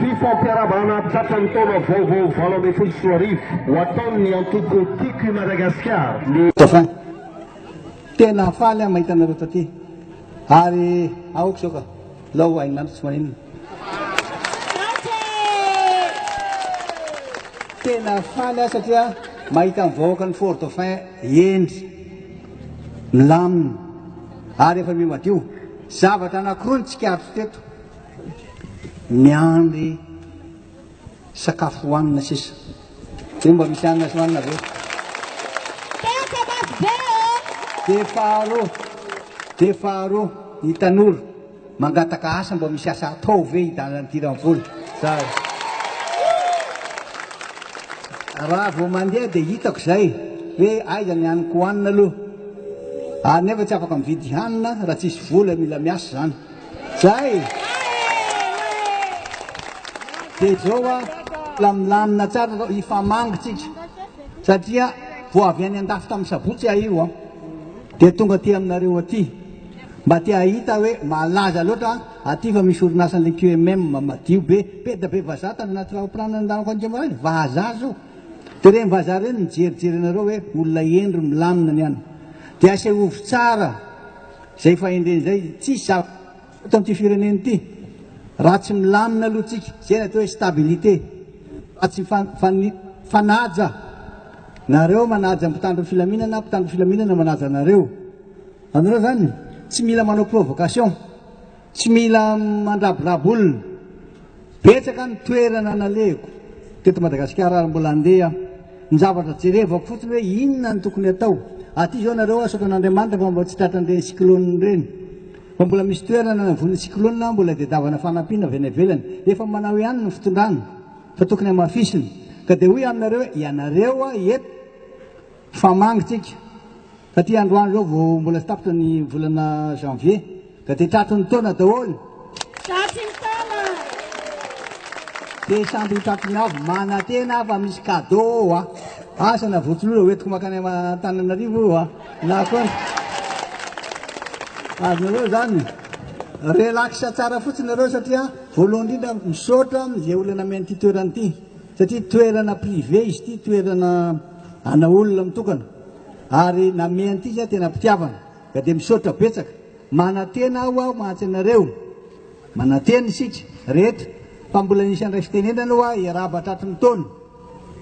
Ny fampiarahabana tratran'ny taona vaovao valo ambin'ny folo sy roa arivo ho ataon'ny antoko Tiako i Madagasikara ny Dauphin. Tena faly aho mahita anareo taty ary aoka izao ka lao hain'ny andro tsy maninona. Tena faly aho satria mahita ny vahoakan'i Fort Dauphin hendry, milamina ary efa miha madio. Zavatra anankiroa no tsikaritro teto. miandry sakafo hohanina sisa de mba misy hanina sy hohanina ve? Tantsa mafy be ô! Dia faharoa, dia faharoa, ny tanora mangataka asa mba misy asa atao ve hidalan'ity ramivola? Zara. Raha vao mandeha dia hitako izay hoe aiza ny haniko hohanina aloha. Ary nefa tsy afaka mividy hanina raha tsisy vola, mila miasa izany. Zay! Dia zao hoa, mbola milamina tsara zao, hifamangy tsika, satria vao avy any an-dafy tamin'ny sabotsy aho io an! Dia tonga aty aminareo aty, mba te hahita hoe malaza loatra aty fa misy orinasan'ilay QMM madio be, peda be vazaha tany anaty rahopilanina nandehanako any Tsimbazaza, vazaha zao! Dia ireny vazaha ireny mijerijery anareo hoe olona hendry, milamina ny any. Dia asehovo tsara. Izay fahendrena izay tsisy zava eto amin'ity firenena ity raha tsy milamina aloha tsika, izay ny atao hoe stabilité, raha tsy mifanaja, nareo manaja ny mpitandro ny filaminana, ny mpitandro ny filaminana manaja anareo, anareo zany tsy mila manao provocation. Tsy mila mandraborabo olona. Betsaka ny toerana nalehiko teto Madagasikara ary mbola andeha aho. Ny zavatra jerevako fotsiny hoe inona no tokony atao. Aty izao nareo asoko an'Andriamanitra fa mba tsy tratran'ireny cyclone ireny. Fa mbola misy toerana navoan'ny cyclone aho mbola diadavana fanampiana avy any ivelany. Efa manao ihany ny fitondrana fa tokony hamafisina. Ka dia hoy aminareo hoe ianareo aho eto Fa mangy tsika. Taty androany zao vao mbola tsy tapitra ny volana janvier ka de tratry ny taona daholo. Tratry ny taona. Dia samby ho tratry ny avy, manantena aho fa misy cadeau ao a. Asa na vorotsiloza hoentiko mankany Antananarivo io a, na koa ny. Azonareo zany. Relax tsara fotsiny nareo satria voalohany indrindra misaotra amzay olona men'ity toerana ity. Satria toerana privé izy ity, toerana ana olona mitokana ary name an'ity aho tena pitiavana ka dia misaotra betsaka. Manantena aho aho mantsy anareo, manantena isika rehetra fa mbola misy handray fitenenana hoa hiarahaba tratry ny taona.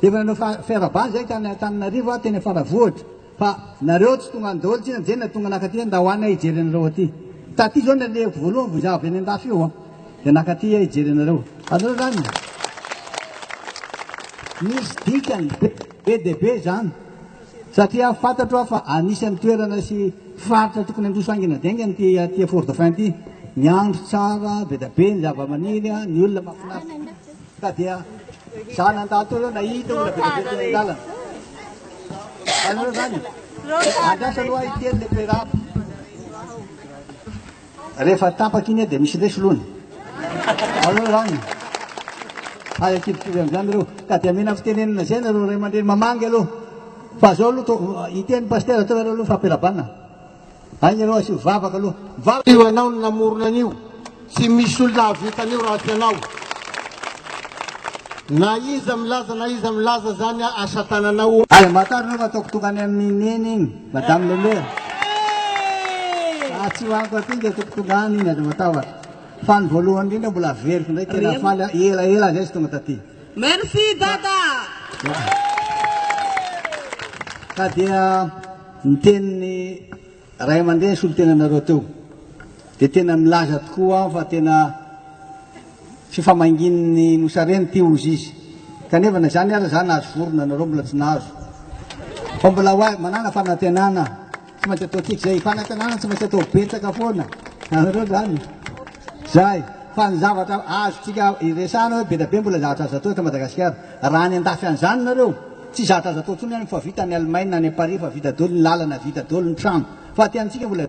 Efa nanao fiarahabana izay tany Antananarivo aho teny Faravohitra. Fa nareo tsy tonga any daholo tsinona jenina tonga naka aty ndao any aho hijery anareo aty. Taty zao nalehiko voalohany vao za avy any andafy io a. De naka aty aho hijery anareo. Azonareo zany? Misy dikany be dia be zany satria fantatro aho fa anisany toerana sy faritra tokony handroso haingana daingana ity aty Fort-Dauphin ity. Ny andro tsara, be dia be ny zava-maniry, ny olona mahafinaritra. Ka dia za nandalo teo aloha nahita olona be dia be teny an-dalana. Anareo zany andrasa aloha ahy kely le perab. Rehefa tapaka iny dia misy leso lony. Anareo zany hay akivokivy amin'izany reo. Ka dia mila fitenenana izay nareo ray aman-dreny mamangy aloha. Fa zao aloha hiteny pasitera teo ianareo aloha fa perab-na. Aina ianao asio vavaka aloha. Mivavaka io anao no namorona an'io. Tsy misy olona hahavita an'io raha tsy ianao. Na iza milaza na iza milaza zany asatanana o. Aza matahotra anao fa ataoko tokana amin'i Neny iny, Madame le Maire. Fa tsy ho anko aty nge ataoko tokana iny, aza matahotra. Fa ny voalohany indrindra mbola averiko indray, tena faly aho, ela ela zay tsy tonga taty. Merci Dada. Ka dia. Ny tenin'ny ray aman-dreny solontenanareo teo dia tena milaza tokoa aho fa tena fifamanginin'ny Nosy Arena ity hozy izy. Kanefa na izany aza za nahazo vorona, nareo mbola tsy nahazo. Fa mbola ho ahy, manàna fanantenana, tsy maintsy ataontsika izay fanantenana tsy maintsy atao betsaka foana, hitanareo izany? Izay. Fa ny zavatra azontsika iresahana hoe be dia be mbola zavatra azo atao eto Madagasikara. Raha any an-dafy any izany nareo, Tsy zatra azo atao tsony any fa vita any Allemagne any Paris fa vita doly ny lalana vita doly ny trano fa aty amintsika mbola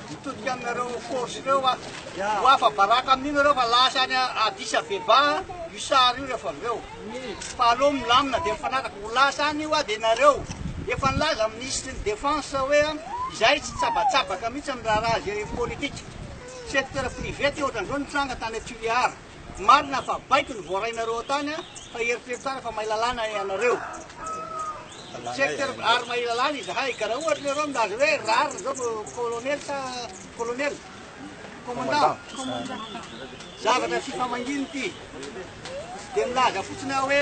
Mitodika aminareo force reo a. Ho afa baraka amin'io nareo fa lasa any Addis Abeba io sary io rehefa avy eo. Fa aleo milamina dia mifanaraka. Ho lasa any io a dia nareo. Efa nilaza ny ministre ny defense hoe izahay tsy tsabatsabaka mihitsy amin'ny raharaha géopolitique. Secteur privé ty ohatran'izao nitranga tany Tuléar. Tsy marina fa baiko ny voarainareo ao tany fa eritrerto tsara fa mahay lalàna ianareo. Secteur ary mahay lalàna izahay ka raha ohatra ianareo milaza hoe rariny zao vo colonel sa colonel? Commandant. Zavatra tsy famangiana ity. Dia milaza fotsiny aho hoe.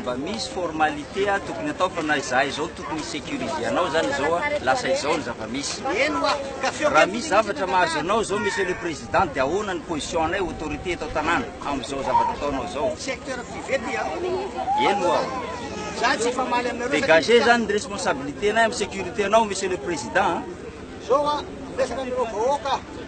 Mba misy formalité tokony atao fa na izahay izao tokony hi-securiser anao izany izao, lasa izao ny zava-misy. Raha misy zavatra mahazo anao izao Monsieur le Président dia ahoana ny position-nay autorité eto an-tanàna amin'izao zavatra ataonao izao? Secteur privé ty an! Eny ho'a! Izaho tsy hifamaly aminareo satria. Dégager izany ny responsabilité-nay amin'ny sécurité-nao Monsieur le Président an! Izao an, miresaka amin'ireo vahoaka.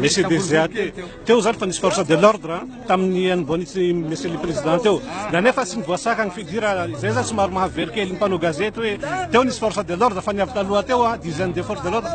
Monsieur Désea, teo zany fa nisy force de l'ordre tamin'ny hanombohan'ity Monsieur le Président teo, na nefa tsy nivoasaka ny figure, izay zany somary mahavery kely ny mpanao gazety hoe teo nisy force de l'ordre fa ny avy taloha teo dizaines de force de l'ordre,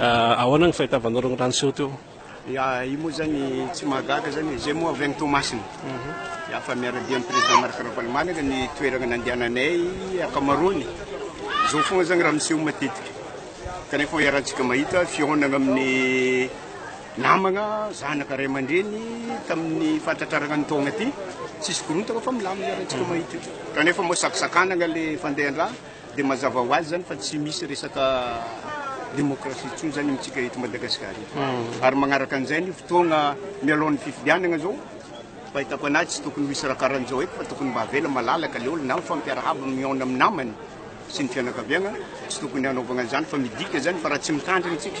Ahoana ny fahitavanao ireo raha niseho teo? Ya, io moa zany tsy mahagaga zany e, zay moa avy any Toamasina. Ya, fa miara-dia amin'ny Président Marc Ravalomanana ny toerana nandehananay ankamaroany. Zao foana zany raha miseho matetika. Kanefa iarahantsika mahita fihaonana amin'ny namagna, zanaka, ray aman-dreny tamin'ny fahatratrarana ny taogna ty. Tsisy korontana fa milamina iarahantsika mahita io. Kanefa moa sakisakanagna le fandehan-draha. Dia mazava ho azy izany fa tsy misy resaka démocratie intsony izany amintsika eto Madagascar eto. Ary magnaraka an'izay ny fotoagna mialoha ny fifidianagna izao, fahitako anahy tsy tokony ho hisy raha karan'izao eto fa tokony mba avela malalaka le olo na mifampiarahaba mihaona amin'ny namany sy ny fianakaviagna, tsy tokony hanaovagna an'izany fa midika izany fa raha tsy mitandrigny tsika,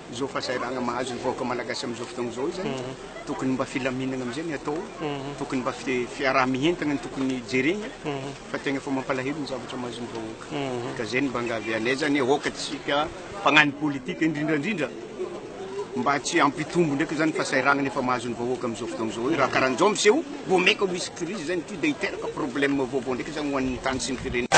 Izao fahasahiranana mahazo ny vahoaka malagasy amin'izao fotoana izao izany, tokony mba filaminana amin'izay ny atao, tokony mba fiaraha-mientana no tokony jerena fa tegna efa mampalahelo ny zavatra mahazo ny vahoaka. Ka zay ny mba angavi anay zany aoka antsika mpagnano politika indrindra indrindra mba tsy hampitombo ndraiky zany fahasahiranana efa mahazo ny vahoaka amin'izao fotoana izao io raha karanjao miseho. Vao mainka ho misy crise izany ity dia hiteraka problème vaovao ndraika izany ho an'ny tany sy ny firenena.